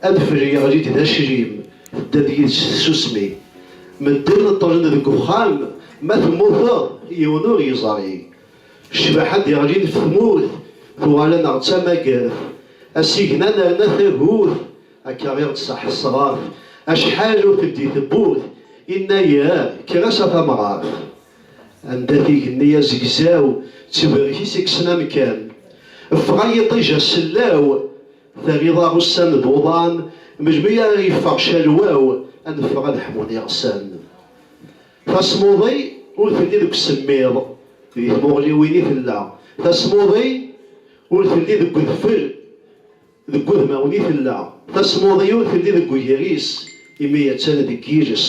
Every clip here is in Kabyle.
Adfel yeɣli-d d aclim, tedda-d yid-s tsusmi. Medden ṭṭlen deg uxxam, ma temmuteḍ, yiwen ur yeẓri. Ccbaḥa d-iɣlin f tmurt, tuɣal-aneɣ d tamagert. Asigna nerna tagut, akka i ɣ-d-tṣaḥ tesraft, acḥal ur teldi tewwurt, innayer, kker-as a tamɣart. Anda-t igenni azegzaw, ttberk-is i yekksen amkan. Ffeɣ a yiṭij a sellaw. Terriḍ aɣessan d uḍan melmi ara yeffeɣ calwaw ad neffeɣ ad ḥmun iɣsan. Tasmuḍi ur telli deg usemmiḍ, di tmuɣliwin i tella. Tasmuḍi ur telli deg udfel, deg udmawen i tella. Tasmuḍi ur telli deg ugris, imi attan deg yiles.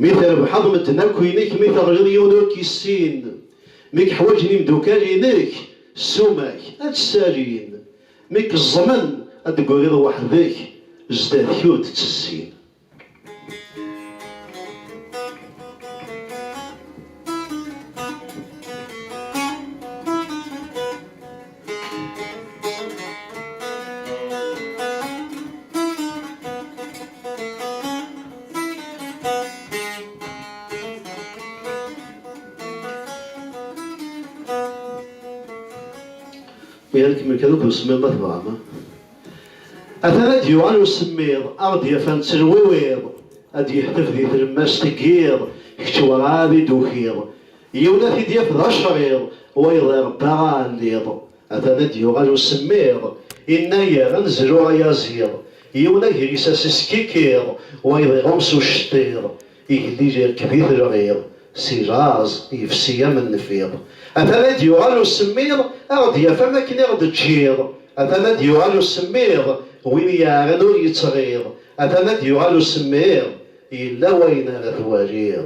Mi trebḥeḍ medden akk inek, mi teɣliḍ yiwen ur k-issin, mi k-ḥwaǧen imdukal-inek, ssuma-k ad tt-salin, mi k-ẓẓmen ad d-tegriḍ weḥd-k, zdat-k ur d-ttezzin. Mi ara kemmel kan akk usemmiḍ ma tebɣam. Atan ad d-yuɣal usemmiḍ, ad ɣ-d-yafan ttelwiwiḍ, ad d-yeḥtef di tlemmast n yiḍ, kečč werɛad i d-tukiḍ. Yiwen ad t-id-yaf d acriḍ, wayeḍ irebba aɛelliḍ. Atan ad d-yuɣal usemmiḍ, innayer ad nezlu ayaziḍ. Yiwen agris ad s-iskikkiḍ, wayeḍ iɣum s ucettiḍ. Igellil irekkeb-it lɣiḍ, si laẓ yefsi am nnfiḍ. Atan ad d-yuɣal usemmiḍ, a ɣ-d-yaf am akken i ɣ-d-teǧǧiḍ. Atan ad d-yuɣal usemmiḍ, win i yeɛran ur yettɣiḍ. Atan ad d-yuɣal usemmiḍ, yella wayen ara twaliḍ.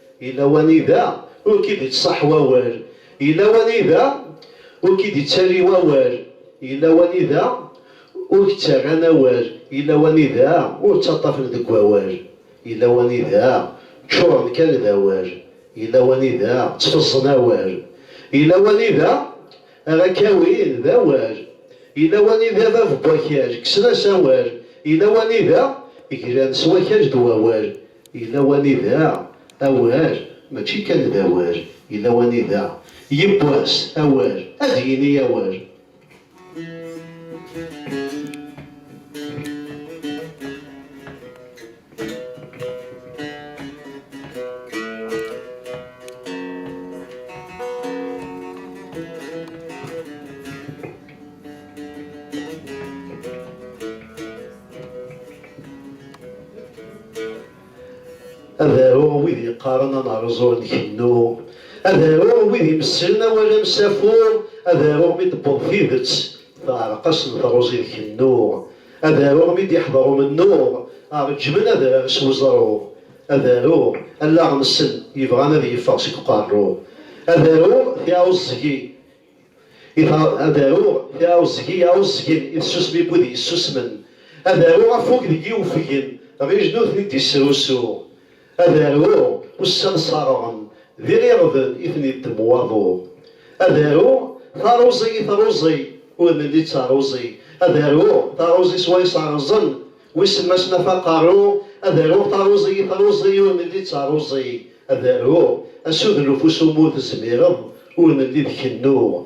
Yella wanida ur k-id-ittṣaḥ wawal, yella wanida ur k-id-ittali wawal, yella wanida ur k-ttarran awal, yella wanida ur ttaṭṭafen deg wawal, yella wanida ččuren kan d awal, yella wanida ttfeẓẓen awal, yella wanida Ara k-awin d awal. Yella wanida bab n wakal, kksen-as awal. Yella wanida glan s wakal d wawal. Yella wanida awal mačči kan d awal. Yella wanida yiwwas awal ad yini awal. yeqqaren ad nerẓu ad nkennu ad aruɣ wid imesslen awal amsafu ad aruɣ mi d-tewweḍ tidet teɛreq-asen truẓi d kennu Ad aruɣ mi d-iḥḍer umennuɣ, Reǧǧmen adrar s weẓruɣ. Ad aruɣ allaɣ-nsen yebɣan ad yeffeɣ seg uqerruɣ. Ad aruɣ tiɛuẓẓgi i Ad aruɣ tiɛuẓẓgi iɛuẓẓgen i tsusmi n wid yessusmen. Ad aruɣ afug deg i ufgen, Ɣij nutni d-isrusuɣ. Ad aruɣ ussan ṣerɣen. D iɣirben i ten-iddem waḍu. Ad aruɣ taruẓi i truẓi ur nelli d taruẓi. Ad aruɣ taruẓi s way ṣerrẓen wisemmasen af aqerru. Ad aruɣ taruẓi i truẓi ur nelli d taruẓi. Ad aruɣ asudluf usumu tezmireḍ ur nelli d kennu.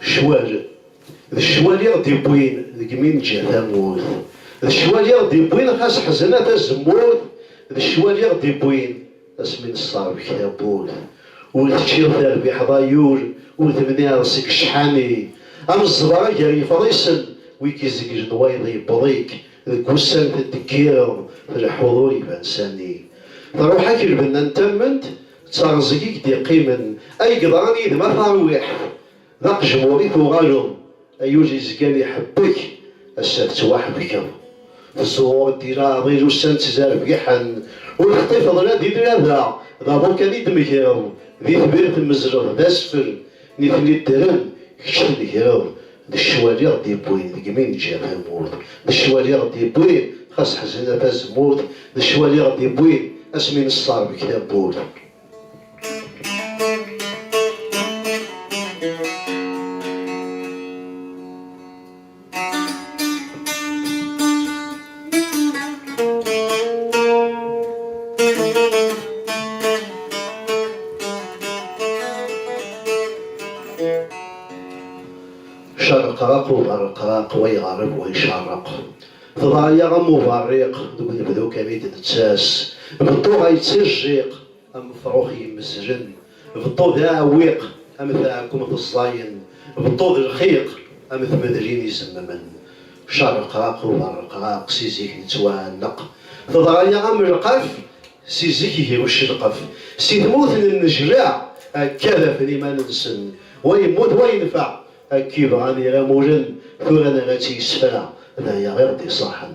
Ccwal, d ccwal i ɣ-d-iwwin deg mi neǧǧa tamurt, d ccwal i ɣ-d-iwwin xas ḥezna tazemmurt, d ccwal i ɣ-d-iwwin asmi nesserbek tawwurt. Ur teččiḍ terbiḥeḍ ay ul, udem n iɛeḍ seg ccḥani, am zzbara gar yefḍisen, wi k-izeglen wayeḍ yewweḍ-ik, deg wussan teddeggireḍ, tleḥḥuḍ ur iban sani. Truḥ-ak lbenna n tamment, D teɣẓeg i k-d-iqqimen. Ay yeḍran yid-m a tarwiḥt, d aqejmur i tuɣaleḍ, ay ul yezgan iḥebbek, ass-a tettwaḥebkeḍ. Tẓur-d di leɛḍil ussan ttzerbiḥen, ur teṭṭifeḍ la d ilel, ada d aḍu kan i d-tmegreḍ, di tbirt tmezzleḍ d asfel, Nitni ddren, kečč tnegreḍ, d ccwal i ɣ-d-yewwin deg mi neǧǧa tamurt, d ccwal i ɣ-d-yewwin xas ḥezna tazemmurt, d ccwal i ɣ-d-yewwin asmi nesserbek tawwurt. Cerqeq uberqeq wa yeɣreb wa icerreq Teḍra-yaɣ am uberriq Deg unebdu kan i d-nettas Beṭṭu ɣa yettajjiq Am ufrux yemmezlen. Beṭṭu d aɛewwiq am tɛekkumt ẓẓayen. Beṭṭu d lxiq am tmedlin izemmen. Carreqraq uberreqraq si zik nettwaɛelleq. Teḍra-yaɣ am lqaf si zik ihi ucelqef. Si tmurt nennejlaɛ akka dafen iman-nsen. Wa yemmut wa yenfeɛ akka ibɣan iramulen. Tura nerra-tt i yisefra d aya i ɣ-d-iṣaḥen.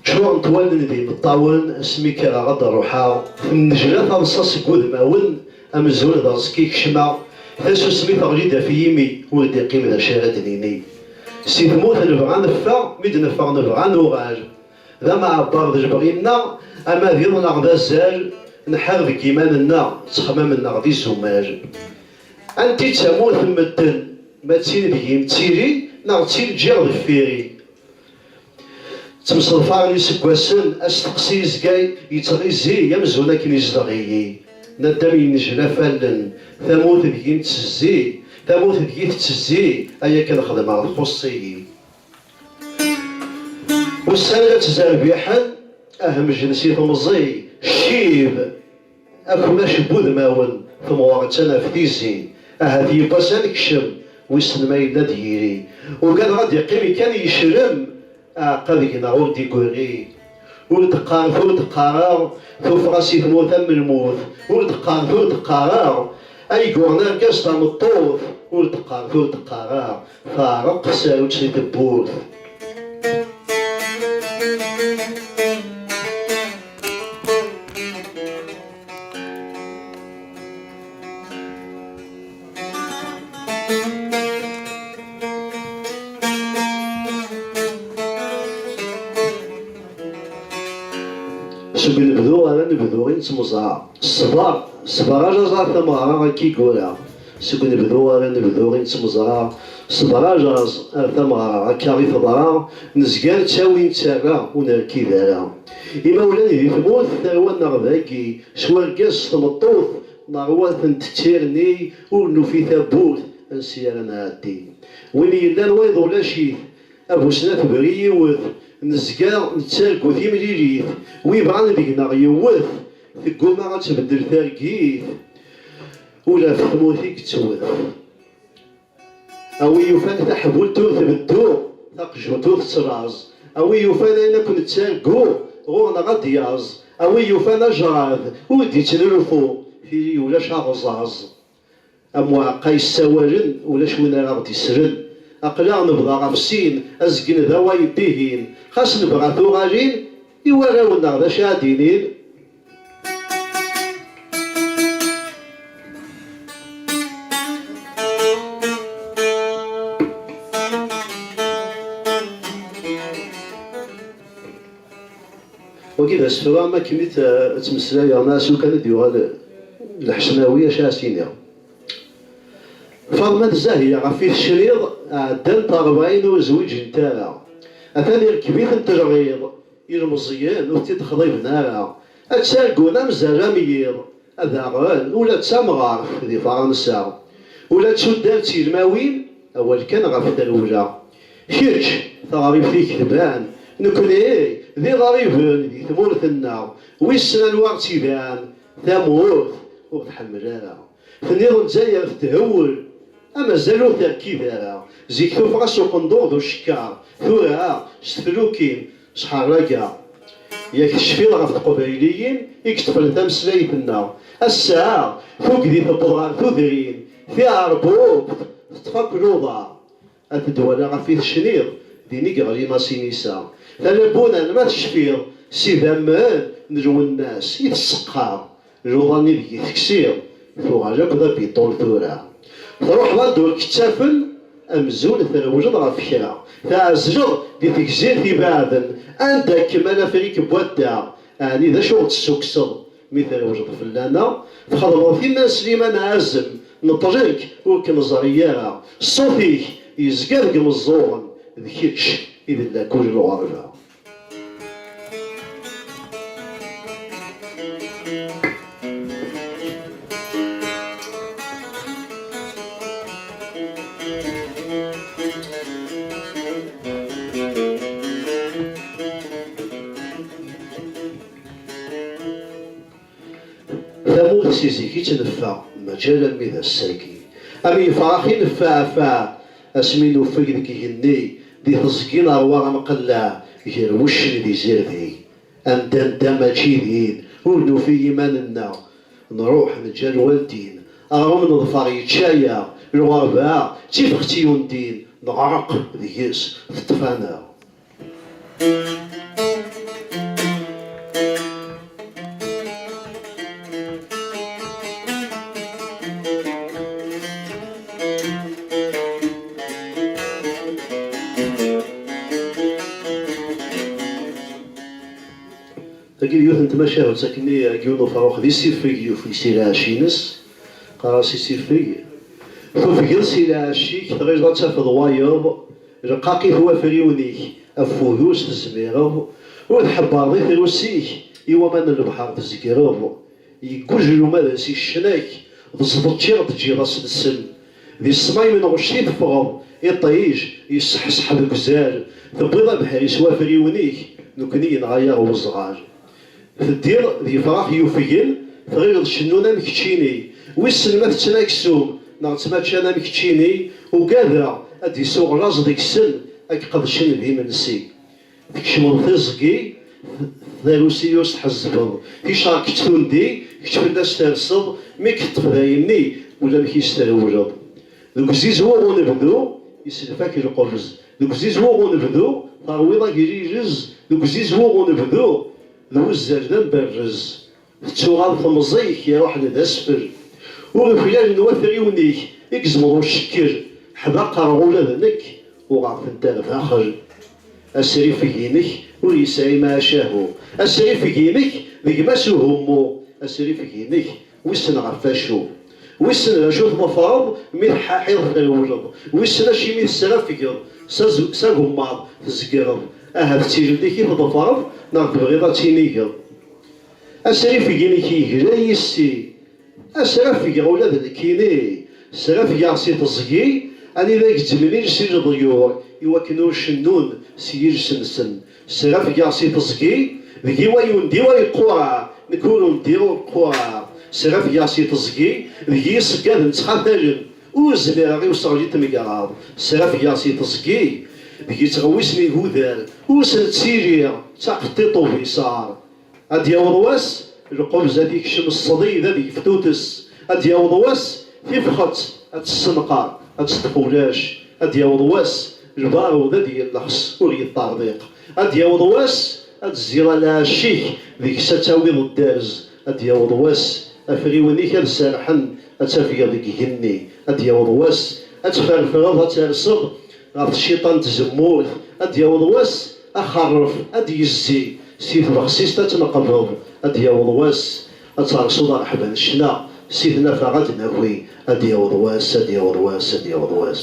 Ččurent wallen d imeṭṭawen asmi kkreɣ ad d-ruḥeɣ. Tennejla taḍsa seg wudmawen, amzun d aẓekka i kecmeɣ, tasusmi teɣli-d af yimi, ur d-iqqim d acu ara d-nini. Si tmurt nebɣa neffeɣ, mi d-neffeɣ nebɣa nuɣal. D ameɛbar d lebɣi-nneɣ, ama d iḍ neɣ d azal, nḥar deg yiman-nneɣ, ttexmam-nneɣ d izumal. Anti d tamurt n medden, ma d tin deg-i mtili, neɣ d tin ǧǧiɣ deffir-i? Ttemseḍfa n yiseggasen, asteqsi yezga yettɣizi amzun akken izdeɣ-iyi naddam yennejla fallen, tamurt deg-i nettezzi, tamurt deg-i tettezzi, ay akken xedmeɣ txuṣṣ-iyi. Ussan la ttzerbiḥen, ahmej n si temẓi, ccib. Akunac n wudmawen temɣer-ttan ɣef tizi, ahat yiwwas ad nekcem, wissen ma yella ad d-yiri. Ugadeɣ ad d-iqqimi kan yecrem, aɛeqqa deg-neɣ ur d-igurri. Ur d-qqaret ur d-qqareɣ, tuffɣa si tmurt am lmut. Ur d-qqaret ur d-qqareɣ, ay yuɣen argaz tameṭṭut. Ur d-qqaret ur d-qqareɣ, Teɛreq tsarut si tewwurt. Seg unebdu ar anebdu i nettemẓaɛ. Ṣṣber, ṣṣber a laẓ ar tameɣra akka i yura. Seg unebdu ar anebdu i nettmeẓra, Ṣber ajaẓ ar tameɣra, Akka i teḍra, nezga nettawi nettarra, Ur nerkid ara. Imawlan di tmurt, tarwa-nneɣ dagi, S urgaz s tmeṭṭut, Neṛwa tent d tirni, Ur nufi tawwurt, ansi ara nɛeddi. Win yellan wayeḍ ulac-it, A bu snat tebri yiwet, Nezga nettargu timlilit, Wi bɣan deg-neɣ yewwet, Tegguma ad tbeddel targit. Ula ɣef tmurt i yettwet. A wi yufan taḥbult ur tbeddu, taqjunt ur tettlaẓ, a wi yufan ayen akk nettargu ɣur-neɣ ad d-yaẓ, a wi yufan ajrad ur d-ittnulfu, tili ulac aɣẓaẓ. Am uɛeqqa yessawalen, ulac win ara ɣ-d-islen. Aql-aɣ nebḍa ɣef sin, azgen d awayed-ihin. Xas nebɣa tuɣalin, i warraw-nneɣ d acu ara d-inin? Wagi d asefru am akken i tt-meslayeɣ neɣ s lukan i d-yuɣal lḥecmawi acu ara s-iniɣ. Faḍma d Zahya ɣef i tecriḍ ɛeddant rebɛin ur zwiǧent ara. Atan irkeb-iten-d lɣiḍ Ilmeẓyen ur t-id-xḍiben ara, ad ttargun amzerram n yiḍ. Daɣen, ula d tamɣart di Faṛansa, ula d tuddar d tigmawin, awal kan ɣef trewla. Kečč, taɣribt-ik tban, nekkni d iɣriben di tmurt-nneɣ, wissen anwa ɣ-tt-iban, tamurt ur tḥemmel ara. Tenniḍ Lezzayer tethewwel, a mazal ur terkid ara, zik tuffɣa-s uqendur d ucekkar, tura ah s teflukin, s ḥerraga. Yak tecfiḍ ɣef teqbayliyin i yeṭṭfen tameslayt-nneɣ, ass-a ah tugdi tewweḍ ɣer tudrin, tiɛerbubt teṭṭef akk luḍa. Ad d-walaɣ af i tecniḍ. Din i yeɣli Masinisa. Tala Buran ma tecfiḍ. S idammen n Lwennas i tesseqqar. Luḍa-nni deg i teksiḍ. Tuɣal akk d abiṭul tura. Truḥeḍ anda ur k-ttafen. Amzun trewleḍ ɣef kra. Tɛezleḍ di tegzirt ibaɛden. Anda kem-an afrik n wadda. Ɛni d acu ɣ-d-tessukkseḍ. Mi trewleḍ fell-aneɣ, txedmeḍ timmad Slimane Azem, neṭṭel-k, ur k-neẓri ara, ṣṣut-ik yezga deg imeẓẓuɣen, d kečč i d lakul n lɣerba. Tamurt si zik i tt-neffeɣ, mačči alammi d ass-agi. Am yifrax i neffeɛfeɛ, asmi nuffeg deg igenni, di teẓgi neṛwa amqelleɛ ger wuccen d izirdig. Anda nedda mačči din, ur nufi iman-nneɣ. Nṛuḥ, neǧǧa lwaldin, aɣṛum neḍfer yečča-yaɣ, lɣerba d tifext yundin, neɣṛeq deg-s, teṭṭef-aneɣ. Tagi d yiwet n tmacahut akken i Giwn Ufaṛux d isifeg yufeg si lɛecc-ines, qqar-as isifeg, tufgeḍ si lɛecc-ik tɣileḍ ad tafeḍ wayeḍ, Lqaq-it wafriwen-ik, afud-us tezmireḍ, ur tḥebbreḍ i trusi-k, i waman n lebḥer tzegreḍ. Yeggujel umadas i ccna-k, d ẓḍeč i ɣ-d-ǧǧiḍ a s-nsel. Di ṣṣmay n lɣect i teffɣeḍ, iṭij, yesseḥseḥ deg uzal, tewwiḍ abeḥri s wafriwen-ik, nekni yenɣa-yaɣ weẓɣal. Teddiḍ d yefrax yufgen, tɣileḍ cennun am keččini. Wissen ma tetten aksum neɣ ttmaččan am keččini, ugadeɣ ad d-isuɣ laẓ deg-sen ad k-qedcen d imensi. Tkecmeḍ tiẓgi, tarusi-us tḥezzbeḍ, ticerket tundi, kečč fell-as terseḍ, mi k-teṭṭef d ayenni, ulamek-is trewleḍ. Deg uzizweɣ unebdu, iselfak lqebz. Deg uzizweɣ unebdu, terwiḍ agrirez. Deg uzizweɣ unebdu, d wuzzal d amberrez. Tettuɣal temẓi-k, iruḥ-d d asfel. Ur uklal n wafriwen-ik, i gezmeḍ ucekker. Ḥdaqreɣ ula d nekk, uɣeɣ-tent ar daxel. Asrifeg-inek ur yesɛi macahu. Asrifeg-inek d gma-s uhummu. Asrifeg-inek. Wissen ɣef wacu? Wissen d acu tḍefreḍ mi teḥḥaḥiḍ trewleḍ? Wissen acimi tesrafgeḍ s agemmaḍ tzegreḍ? Ahat d tilelli-k i tḍefreḍ neɣ tebɣiḍ ad tinigeḍ? Asrifeg-inek yegla yis-i. Asrafgeɣ ula d nekkini. Srafgeɣ si teẓgi anida gezzmen iles i leḍyur iwakken ur cennun s yiles-nsen. Srafgeɣ si teẓgi, deg-i way undi way qqureɣ, nekk ur undiɣ ur qqureɣ. Srafgeɣ si teẓgi, deg-i iṣeggaden ttxatalen, ur zmireɣ i useɣli n tmegraḍ. Srafgeɣ si teẓgi, deg-i ttɣewwisen igudar, ur sen-ttiliɣ, ttaqeṭṭiṭ ubiṣar. Ad d-yaweḍ wass, lqebz ad t-ikcem ṣṣdid, ad yefk tuttess. Ad d-yaweḍ wass, tifxet ad tessenqer, ad teṭṭef ulac. Ad d-yaweḍ wass, lbarud ad yellexs, ur yeṭṭerḍiq. Ad d-yaweḍ wass, ad d-tzira lɛecc-ik, deg-s ad tawiḍ dderz. Ad d-yaweḍ wass, afriwen-ik ad serḥen, ad tafgeḍ deg igenni. Ad d-yaweḍ wass, ad tferfreḍ, ad terseḍ. Ɣef tciṭa n tzemmurt, ad d-yaweḍ wass axerref ad d-yezzi si tbexsist ad tneqbeḍ, ad d-yaweḍ wass ad tersuḍ areḥba n ccna si tnafa ad d-naki, ad d-yaweḍ wass, ad d-yaweḍ wass, ad d-yaweḍ wass.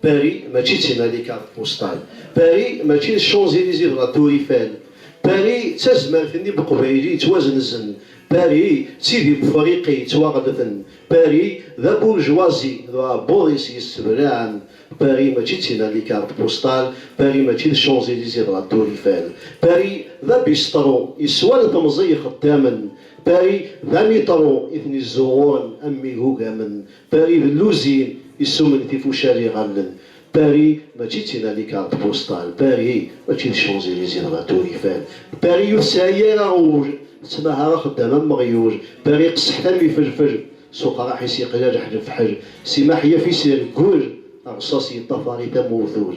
Paris mačči d timalika d tbusṭan. Paris mačči d Champs-Elysées d la Tour Eiffel. Paris d tazmert-nni n Uqbayli yettwazenzen. Paris d tid n Wefriqi yettwaɣellten. Paris d aburjwazi d uɛebbuḍ-is yesseblaɛen. Paris mačči d timalika d tbusṭan. Paris mačči d Champs-Elysées d la Tour Eiffel. Paris d abistṛu yeswan temẓi ixeddamen. Paris d amitṛu i ten-izzuɣuren am igugamen. Paris d Louzi yessumen tifucal iɣallen. Paris mačči d tinalikarḍt postal. Paris mačči d Champs-Elysées dɣa turifan. Paris ur tesɛi ara ul, tettmahar axeddam am weɣyul. Paris qesḥet am ifelfel, s uqraḥ-is yeqla leḥlefḥel. Simaḥ yaf-it ireggel, rṣas yeṭṭafar-it am uwtul.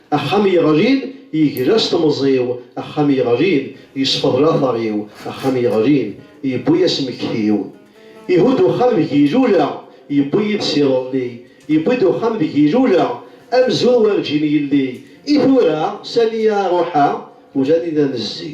Axxam yeɣlin yegla s temẓi-w, axxam yeɣlin yesfeḍ lateṛ-iw, axxam yeɣlin yewwi-yas mmekti-w. Ihudd uxxam deg ilula, yewwi yid-s iḍelli, yewwi-d uxxam deg ilula, amzun werǧin yelli. I tura, sani ara ruḥeɣ? Ula nina nezzi.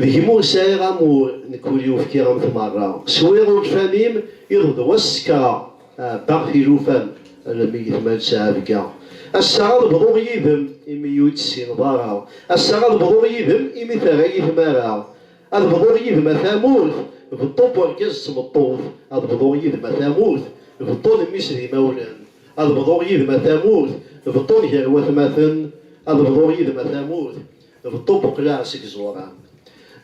D kemm ur sɛiɣ amur nekk ur yufkiɣ am tmerra swiɣ ugfam-im iḍ d wass sekreɣ ɛebbaɣ tilufam almi gitma d-ţɛebga ass-a ad bḍuɣ yid-m imi ur yi-ţ-ţsineḍ ara ass-a ad bḍuɣ yid-m imi terra-yi tmara ad bḍuɣ yid-m a tamurt beṭṭu n urgaz d tmeṭṭut ad bḍuɣ yid-m a tamurt beṭṭu n mmi-s d imawlan ad bḍuɣ yid-m a tamurt beṭṭu n gar watmaten ad bḍuɣ yid-m a tamurt Beṭṭu buqleɣ seg ẓur-a.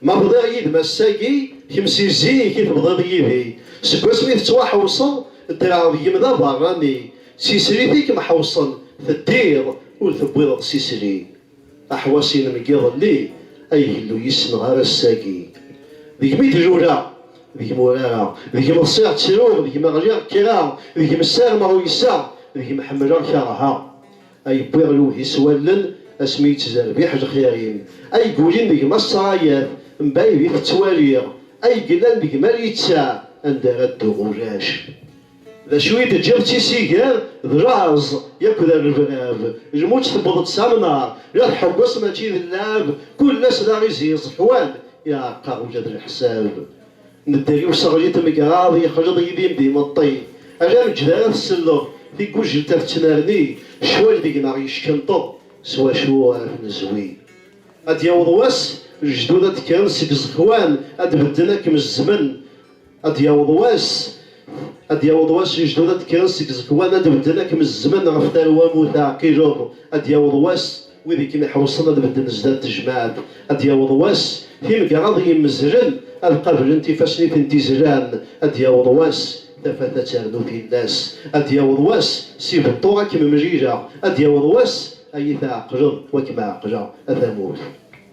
Ma bḍiɣ yid-m ass-agi, kemm si zik i tebḍiḍ yid-i. Seg wasmi tettwaḥewṣeḍ, ddreɣ deg-m d aberrani. D tislit i kem-ḥewṣen, teddiḍ ur tewwiḍeḍ s isli. Aḥwas-inem n yiḍelli, ay Illu yismeɣ ar ass-agi. Deg-m i d-luleɣ, deg-m urareɣ, deg-m ḍsiɣ ttruɣ, deg-m ɣliɣ kkreɣ, deg-m ssarmeɣ uyseɣ, deg-m ḥemmleɣ kerheɣ. Ay wwiɣ lewhi s wallen asmi yettezerbiḥ lxir-im, ay yulin deg-m a ṣṣrayat, mbayd i t-ttwaliɣ, ay yellan deg-m a littaɛ, anda ara dduɣ ulac. D acu i d-ǧǧiɣ d tisigar, d laẓ yakk d rrebrab, lmut tewweḍ-d s amnar, la tḥewweṣ mačči d llɛab, kul ass d aɣiziẓ, ḥwan, iɛreq-aɣ ula d leḥsab. Nedder i useɣli n tmegraḍ yexleḍ yid-i d imeṭṭi, ala ameǧǧed ara tselleḍ, tigujelt-a tettnerni, ccwal deg-neɣ yeckenṭeḍ, s wacu ara t-nezwi? Ad d-yaweḍ wass, lejdud ad d-kkren seg iẓekwan, ad d-bedden ad kem-zzmen, ad d-yaweḍ wass, ad d-yaweḍ wass, lejdud ad d-kkren seg iẓekwan, ad d-bedden ad kem-zzmen ɣef tarwa-m ur teɛqileḍ, ad d-yaweḍ wass, Wid i kem-iḥewṣen ad bedden zdat tejmaɛt, ad d-yaweḍ wass, timgaraḍ i yimezzlen ad qablen tifassen i tent-izlan, ad d-yaweḍ wass, tafat ad ternu tillas, ad d-yaweḍ wass, si beṭṭu a kem-mlileɣ, ad d-yaweḍ wass, a yi-tɛeqleḍ, wa kem-ɛeqleɣ, a tamurt.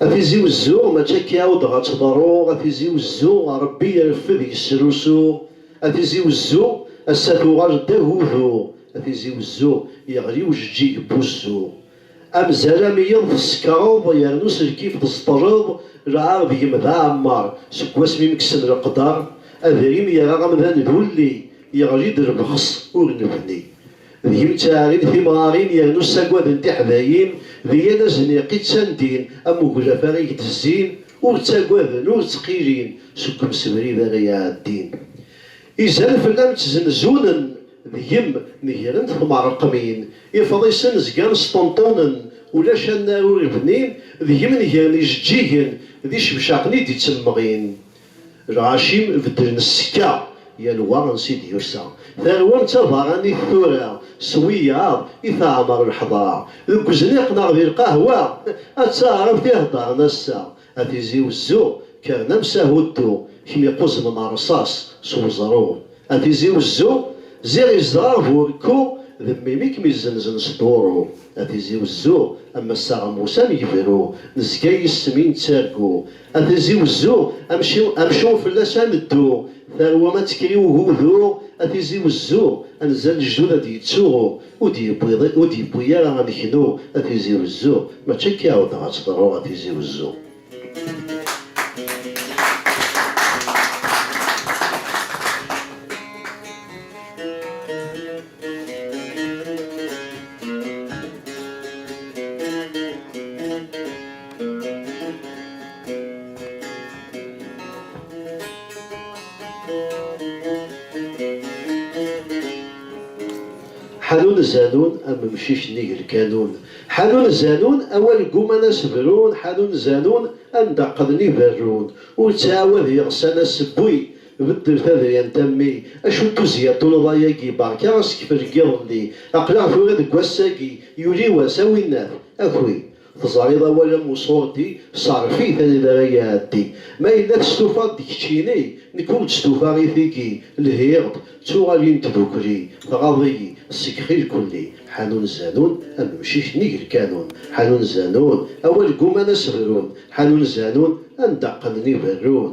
A Tizi Wezzu, mačči akka i aw-d ɣa tt-ḍerruɣ, a Tizi Wezzu, Rebbi ireffed yesrusu, a Tizi Wezzu, ass-a tuɣal-d d agudu, a Tizi Wezzu, yeɣli ujeǧǧig n wuzzu. Amzar am yiḍ tsekreḍ, yernu s lkif tzeṭṭleḍ, lɛar deg-m d aɛemmer, seg wasmi m-kksen leqder, adrim yerra amdan d ulli, yeɣli-d lbexs ur nebni. D kemm ttaɛrin timrarin yernu ssagaden tiḥdayin di yal azniq i ttandin am uglaf ara eg-d-zzin ur ttagaden ur ttqilin seg umsebrid ara iɛeddin izan fell-am ttzenzunen deg-m negrent tmerqmin ifḍisen zgan sṭenṭunen ulac annar ur bnin deg-m negren ijeǧǧigen d icebcaqen i d-ittemmeɣin Lɣaci beddlen ssekka, yal wa ansi d-yusa. Tarwa d tabaranit tura, s wiyaḍ i teɛmer lḥedra. Deg wezniq neɣ di lqahwa, a taɛrabt i heddren ass-a. A Tizi Wezzu, kkren am s ahuddu, kemm iquzmen rrṣaṣ s weẓru. A Tizi Wezzu, ziɣ izdeɣ bu rekku, d mmi-m i kem-izenzen s duru. A Tizi Wezzu, am assaɣ am wussan yebru, nezga yis-m i nettargu. A tizi wezzu, amcum fell-as a neddu, tarwa ad tekker i ugudu, a tizi wezzu, anza n lejdud a d-yettuɣu, ur d-yewwi ara ameknu, a tizi wezzu, mačči akka i ɛuddeɣ ad teḍru, a tizi wezzu. Ḥanun zanun am umcic nnig lkanun Ḥanun zanun awal gguman a s-brun Ḥanun zanun anda qqden i berrun Ur ttɛawad yeɣsan a s-wwin Beddel tadyant a mmi. Acu n tuzya tuneḍayagi barka asekfel n yiḍelli aqlaɣ tura deg wassagi yuli wass a winnat akwi teẓariḍ awal am uṣurdi seṛf it anida ara iɛeddi ma yella testufaḍ d keččini nekk ur d-stufaɣ i tigi lhiɣ-d ttuɣalin tdukli tɣaḍ-iyi ssekxi lkulli ḥanun zanun am umcic nnig lkanun ḥanun zanun awal gguman a s-brun ḥanun zanun anda qqnen iberrun.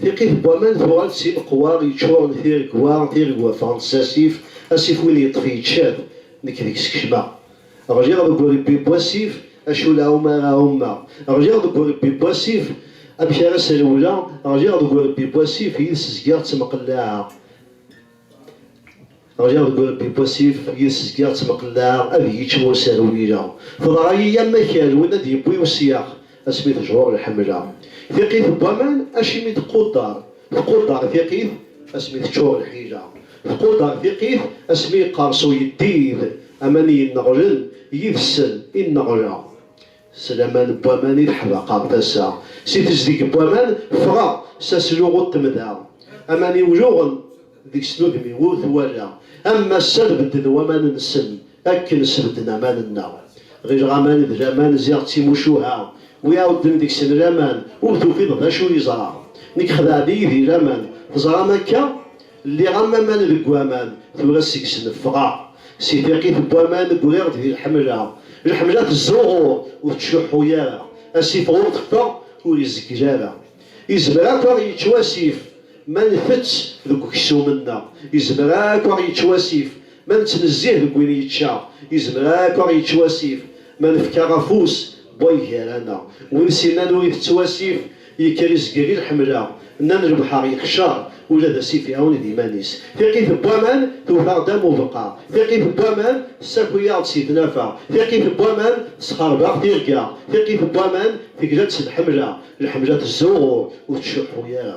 Tiqit n waman tuɣal d timeqwa yeččuren tiregwa, tiregwa ffɣent s asif, asif win yeṭṭef yečča-t, nekk deg-s kecmeɣ. Ɣliɣ deg urebbi n wasif, acu la ɛuma ara ɛumeɣ? Ɣliɣ deg urebbi n wasif, amek ara srewleɣ? Ɣliɣ deg urebbi n wasif, yid-s zgiɣ ttemqellaɛeɣ. Ɣliɣ deg urebbi n wasif, yid-s zgiɣ ttmeqellaɛeɣ ad iyi-ččen wasaru n yila. Teḍra-yi am akal win ad d-yewwi usyax asmi tejreɣ lḥemla. Tiqqit n waman acimi teqqudder, teqqudder tiqqit asmi teččur lḥila. Teqqudder tiqqit asmi yeqqers uyeddid, aman yenneɣlen, yid-sen i nneɣleɣ. S laman n waman i teḥdaqeɣ tasa, si tezdeg n waman ffɣeɣ, s asluɣu n temda, aman i wluɣen deg-s n udem-iw ur t-walaɣ, am massa tbedden waman-nsen akken sbedden aman-nneɣ, ɣileɣ aman d laman ziɣ d timucuha, wi iɛudden deg-sen laman ur tufiḍ d acu yeẓra, nekk xedɛen-iyi di laman, teẓram akka? Lliɣ am aman deg waman, tura seg-s neffɣeɣ. Si tiqit n waman ggriɣ-d di lḥemla. Lḥemla tezzuɣur, ur tettcuḥḥu ara. Asif ɣur teffeɣ, ur izeggel ara. Izmer akk aɣ yečč wasif ma ntett deg uksum-nneɣ. Izmer akk aɣ yečč wasif ma nettnezzih deg win yečča. Izmer akk aɣ yečč wasif ma nefkaɣ afus Way gar-ana, win sinan ur itett wasif, yekker izger i lḥemla, nnan lebḥer yeqcer, ula d asif iɛuned iman-is. Tiqit n waman tewwet-aɣ-d am ubeqqa, tiqit n waman tessaki-aɣ-d si tnafa, tiqit n waman tesxerb-aɣ tirga, tiqit n waman tegla-d s lḥemla, lḥemla tezzuɣur, ur tcuḥḥu ara.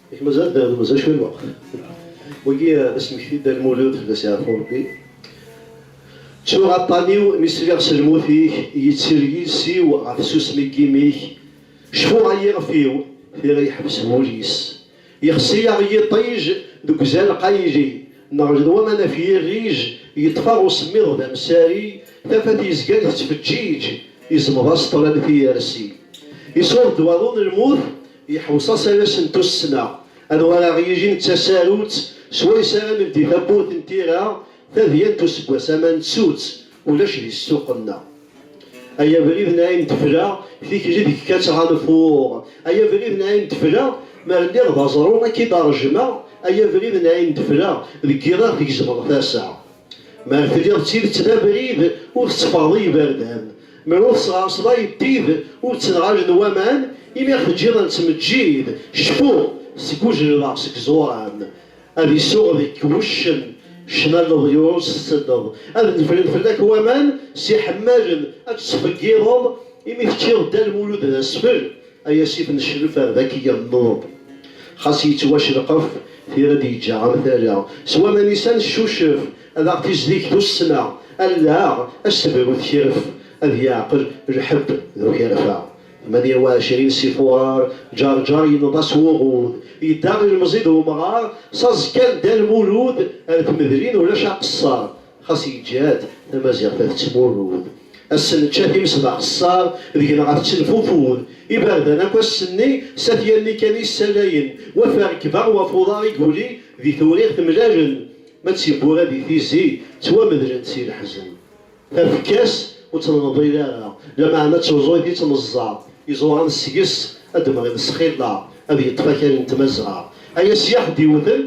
Yak mazal ad d-nernu mazal cwiya n lweqt. Wagi d asmekti Dda Lmulud Dda Sɛirfuṛebbi. Ttuɣ aṭṭan-iw mi sliɣ s lmut-ik, yettir yiles-iw ɣer tsusmi n yimi-k, cfuɣ ay iɣef-iw, tira yeḥbes wul-is. Yexṣi-aɣ yiṭij deg uzal qayli, neṛjed waman af yirrij, yeṭṭef-aɣ usemmiḍ d amsari, tafat yezgan tettfeǧǧiǧ, iẓmeḍ-as ṭṭlam tiyersi. Iṣuṛ-d waḍu n lmut. Yeḥweṣ-as ad asen-tussna anwa ara ɣ-yijin d tasarut swayes ara neldi tawwurt n tira tadyant useggas ama nettu-tt ulac di ssuq-nneɣ. Ay abrid n ayen d-fleɣ tikli deg-k ad ttɣanfuɣ Ay abrid n ayen d-fleɣ mer lliɣ d aẓru ad k-id-rejmeɣ Ay abrid n ayen d-fleɣ deg yiḍ ad ɣ-tgezmeḍ tasa Mer tliḍ d tidet d abrid ur tetteffɣeḍ i yiberdan Mer ur tesɣerseḍ ayeddid ur ttenɣalen waman, imi ad ɣ-teǧǧiḍ a nettmeǧǧid, cfu seg ujleleɣ seg ẓur-am, ad isuɣ deg wuccen ccna n leḍyur s tseddeḍ, ad nefren fell-ak waman s iḥemmalen, ad tettfeggiḍeḍ, imi teččiḍ Dda Lmulud d asfel, ay asif n ccref ar d ak yenneḍ. Xas yettwaccelqef, tira d-yeǧǧa am tala, s waman-is ad neccucef, Ad aɣ-tizdig tussna, allaɣ asebru tekref, ad yeɛqel lḥebb d ukerfa. Tmanya u ɛecrin Si Fuṛar Ǧeṛǧeṛ yenneḍ-as wuɣud, yedda ilemẓi d umɣar, s aẓekka n Dda Lmulud ar tmedlin ulac aqeṣṣer, xas yeǧǧa-d tamaziɣt ad tettmurud. Ass-n nečča times d axeṣṣar, deg-neɣ ad tettenfufud. Iberdan akk ass-nni s at yanni kan i ssalayen, waf arekba waf uḍar i yuli di tewriɣt mlalen, Ma d tiwwura di tizi ttwamedlent si leḥzen. Tafekka-s ur tt-nenḍil ara, lameɛna d tuẓuyt i tt-neẓẓa. Iẓuran seg-s ad d-mɣin sxilla, ad yeṭṭef akal n tmazɣa. Aya s yaḥ d-iwten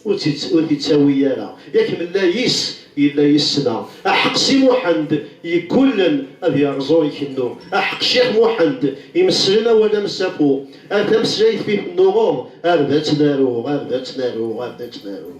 ur t-ittawi ara. Yak mella yis yella yis-sna. Aḥeq Si Muḥend yeggullen ad yerreẓ ur ikennu. Aḥeq Ccix Muḥend imesslen awal amsafu. Ar tameslayt fi tennuɣeḍ, ar d ad tt-naruɣ, ar d ad tt-naruɣ, ar d ad tt-naruɣ.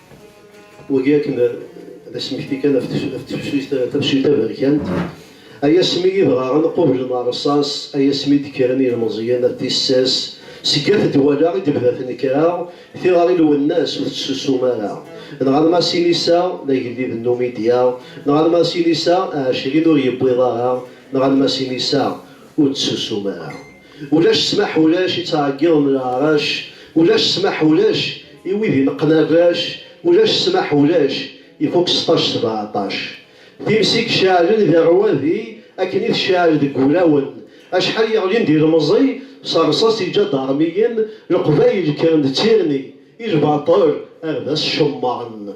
Wagi akken d asmekti kan af tefsut taberkant, ay asmi i dɣa ad nqubel neṛṣaṣ, ay asmi i d-kkren yilmeẓyen ar tissas, seg at Dwala i d-tebda tnekra, tiɣri n Lwennas ur tessusum ara. Neɣ arma sin-is-a d agellid n Numidya, neɣ arma sin-is-a ɛecrin ur yewwiḍ ara, neɣ arma sin-is-a ur d-tessusum ara. Ulac ssmaḥ ulac i ttɛeggiḍen leɛrac Ulac ssmaḥ ulac i wid ineqqen arrac Ulac ssmaḥ ulac ifuk seṭṭac sebeɛṭac Times i iceɛlen di rrwadi akken i tceɛl deg wulawen Acḥal yeɣlin d ilemẓi s rrṣaṣ iǧadarmiyen Leqbayel kkren d tirni i lbaṭel ar d as-cemmren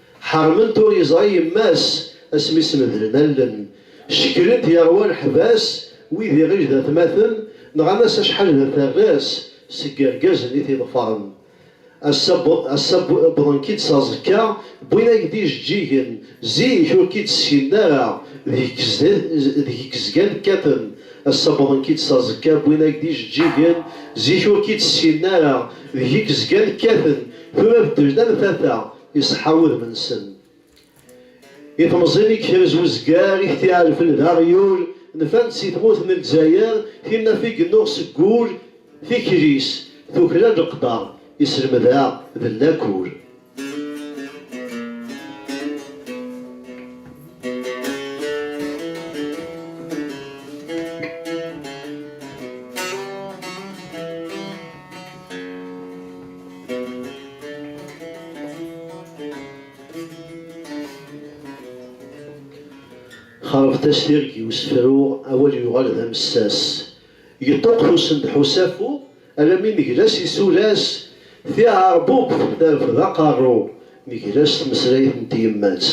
Ḥermen-t ur yeẓri yemma-s asmi s-medlen allen. Ceklen-t yerwa leḥbas wid iɣij d atmaten, nɣan-as acḥal d aterras seg yergazen i t-iḍefren. Ass-a ass-a wwḍen-k-id s aẓekka, wwin-ak-d ijeǧǧigen, zik ur k-id-sseknen ara, deg-k zgan kkaten. Ass-a wwḍen-k-id s aẓekka, wwin-ak-d ijeǧǧigen, zik ur k-id-sseknen ara, deg-k zgan kkaten. Tura beddel-d am tata. Iṣeḥḥa wudem-nsen. I temẓin i yekrez uzgar i k-t-iɛerfen d aɣyul, nfan-d si tmurt n Lezzayer, tinaf i yennuɣ seg wul, tikli-s tuklal leqder, iselmed-a d llakur. xerbt-as tirg i usefru, awal yuɣal d amessas. Yeṭṭuqtusen-d ḥusafu, alammi negla s isulas, tiɛerbubt terfed aqerru, Negla s tmeslayt n tyemmat.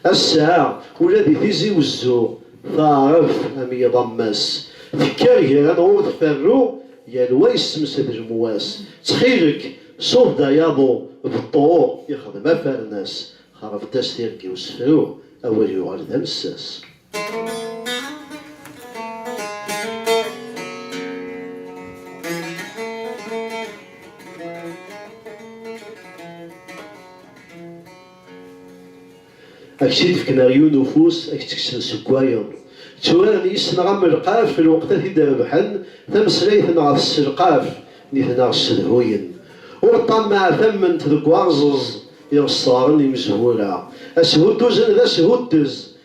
Ass-a, ula di Tizi Wezzu, taɛrabt am yiḍ am wass, tekker ger anɣur tferru, yal wa yessemsed lemwas. Ttxil-k, suḍ-d ay aḍu, beṭṭu ixdem afernas, xerbt-as tirga i usefru, awal yuɣal d amessas. ad k-tt-id-fken ar yiwen ufus, ad k-tt-kksen seg wayeḍ. Tturaren yis-neɣ am lqaf lweqt ad t-id-rebḥen, tameslayt-nneɣ tesselqaf, nitneɣ ssedhuyen. Ur ṭṭammeɛ tamment deg warẓeẓ iɣesraren imezwura. Ashudduzen d ashuddez,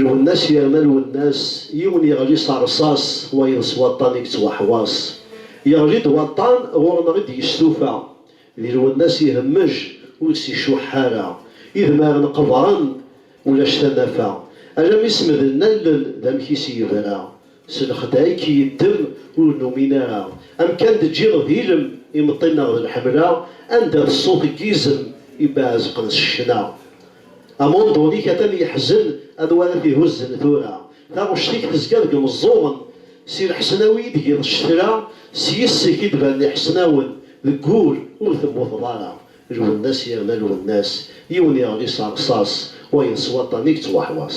Lwennas yerna Lwennas, yiwen yeɣli s rṣas, wayeḍ s waṭṭan i yettwaḥwaṣ. Yeɣli-d waṭṭan, ɣur-neɣ i d-yestufa. Di Lwennas ihemmej, ur s-icuḥḥ ara. Idmaren qeḍran, ulac tanafa. Alammi semden allen, d amek i s-yebra. S lexdeɛ i k-yeddem ur numin ara. Amkan d-ǧǧiɣ d ilem, imeṭṭi nneɣ d lḥemla, anda d ṣṣut n yizem ibaɛezqen s ccna. Amundul-ik atan yeḥzen, anwa ara t-ihuzzen tura? Taɣect-ik tezga deg imeẓẓuɣen, si lḥesnawi i d-giḍ ccetla, s yis-k i d-banen iḥesnawen, deg ul ur temmuteḍ ara. Lwennas yerna lwennas, yiwen yeɣli s rṣas, wayeḍ s waṭṭan i yettwaḥwaṣ.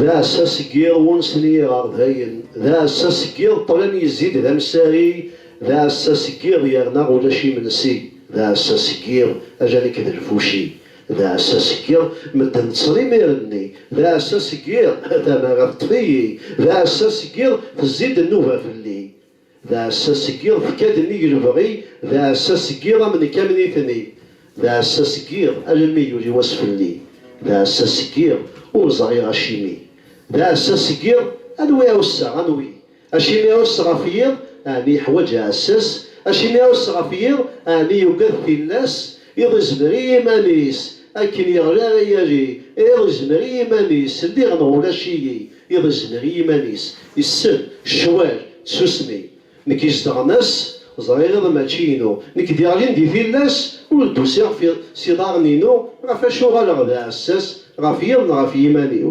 D aɛessa seg yiḍ wunsen i yiɣerdayen, d aɛessa seg yiḍ ṭṭlam yezzi-d d amsari, d aɛessa seg yiḍ yerna ulac imensi, d aɛessa seg yiḍ ala nekk d lfuci, d aɛessa seg yiḍ medden ṭṭsen imir-nni, d aɛessa seg yiḍ tamara teṭṭef-iyi, d aɛessa seg yiḍ tezzi-d nnuba fell-i. D aɛessas seg yiḍ fka-d nnig lebɣi, d aɛessas seg yiḍ am nekk am nitni, d aɛessas seg yiḍ alammi yuli wass fell-i, d aɛessas seg yiḍ ur ẓriɣ acimi, d aɛessas seg yiḍ anwi ɛusseɣ, anwi? Acimi ɛusseɣ ɣef yiḍ? Ɛni yeḥwaǧ aɛessas? Acimi ɛusseɣ ɣef yiḍ? Ɛni yugad tillas? Iḍ izmer i yiman-is, akken yeɣli ara yali, iḍ izmer i yiman-is, lliɣ neɣ ulac-iyi, iḍ izmer i yiman-is, isem, ccwal, tsusmi. Nekk izedɣen ass, ẓriɣ iḍ mačči inu, nekk d-iɣlin di tillas, ur d-usiɣ f iḍ s iḍarren-inu, ɣef acu uɣaleɣ d aɛessas, ɣef yiḍ neɣ ɣef yiman-iw?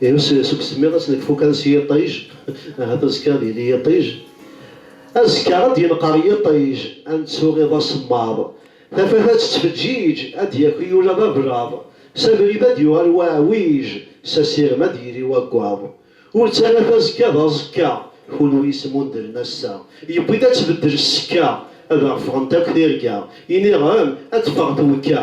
Ihi seg usemmiḍ ass nekfu kan s yiṭij, ahat azekka ad yili yiṭij. Azekka ara d-yenqer yiṭij, ad nettu iḍ asemmaḍ. Tafat ad tettfeǧǧiǧ, ad d-yaki ula d ablaḍ. S abrid ad d-yuɣal waɛwij, s asirem ad d-yili waggaḍ. Ur ttara tazekka d aẓekka, kunwi smundren ass-a. Yewwi-d ad tbeddel ssekka, ad aɣ-ffɣent akk tirga. Iniɣem ad teffeɣ twekka,